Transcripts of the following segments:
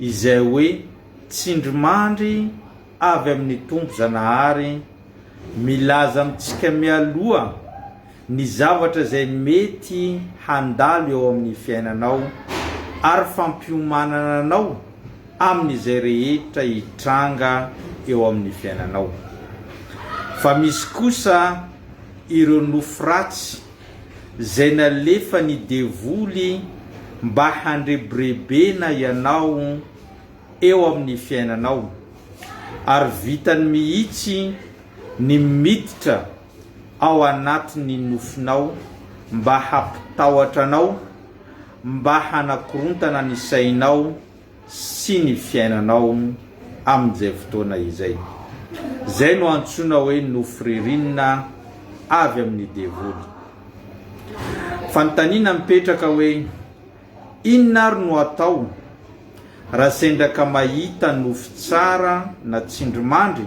Izay hoe, tsindrimandry avy amin'ny Tompo Zanahary milaza amintsika mialoha ny zavatra izay mety handalo eo amin'ny fiainanao ary fampiomanana anao amin'izay rehetra hitranga eo amin'ny fiainanao. Fa misy kosa ireo nofy ratsy Zay nalefany devoly mba handrebirebena ianao eo amin'ny fiainanao, ary vitany mihitsy ny miditra ao anatin'ny nofinao mba hampitahotra anao, mba hanakorontana ny sainao, sy ny fiainanao amin'izay fotoana izay. Izay no antsoina hoe nofy ririnina avy amin'ny devoly. Fanontaniana mipetraka hoe inona ary no atao raha sendra ka mahita nofy tsara na tsindrimandry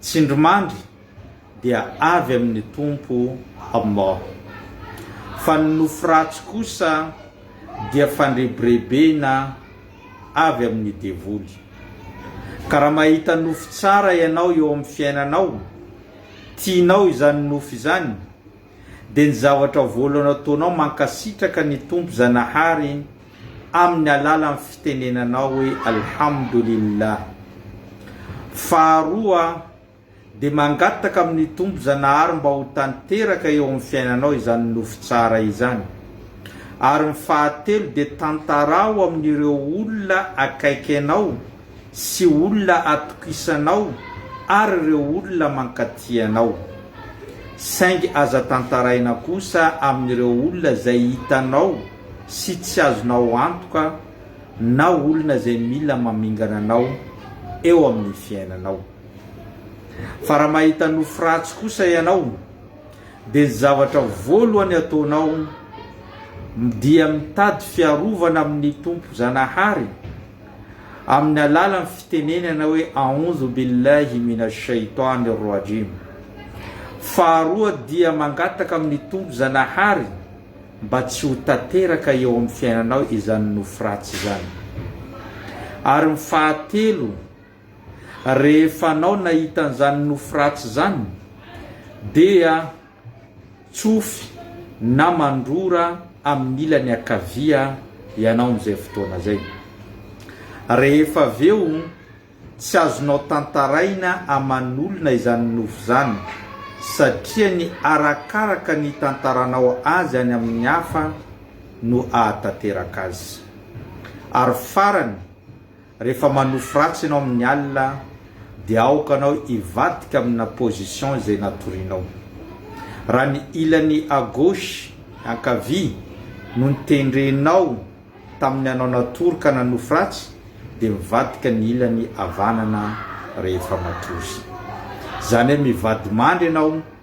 Tsindrimandry dia avy amin'ny tompo Allah. Fa ny nofy ratsy kosa dia fandrebirebena avy amin'ny devoly. Ka raha mahita nofy tsara ianao eo amin'ny fiainanao, tianao izany nofy izany, dia ny zavatra voalohany ataonao mankasitraka ny Tompo Zanahary amin'ny alalan'ny fitenenanao hoe Alhamdulillah. Faharoa dia mangataka amin'ny Tompo Zanahary mba ho tanteraka eo amin'ny fiainanao izany nofy tsara izany. Ary ny fahatelo dia tantarao amin'ireo olona akaiky anao sy olona atokisanao ary ireo olona mankaty anao. Saingy aza tantaraina kosa amin'ireo olona izay hitanao sy tsy azonao antoka na olona izay mila mamingana anao eo amin'ny fiainanao. Fa raha mahita nofy ratsy kosa ianao dia ny zavatra voalohany ataonao dia mitady fiarovana amin'ny Tompo Zanahary, amin'ny alalan'ny fitenenana hoe Aoundhou billahi minash shaitani rajim. Faharoa dia mangataka amin'ny Tompo Zanahary mba tsy ho tanteraka eo amin'ny fiainanao izany nofy ratsy izany. Ary ny fahatelo, rehefa anao nahita an'izany nofy ratsy izany dia. tsofy na mandrora amin'ny ilany ankavia ianao amin'izay fotoana izay. Rehefa avy eo, tsy azonao tantaraina aman'olona izany nofy izany, satria ny arakaraka ny itantaranao azy any amin'ny hafa no ahatanteraka azy. Ary farany, Rehefa manofy ratsy ianao amin'ny alina dia aoka anao hivadika amina position izay natorianao. Raha ny ilany à gauche, ankavia, no notendrenao tamin'ny anao natory ka nanofy ratsy dia mivadika ny ilany havanana rehefa matory. Izany hoe mivadimandry ianao.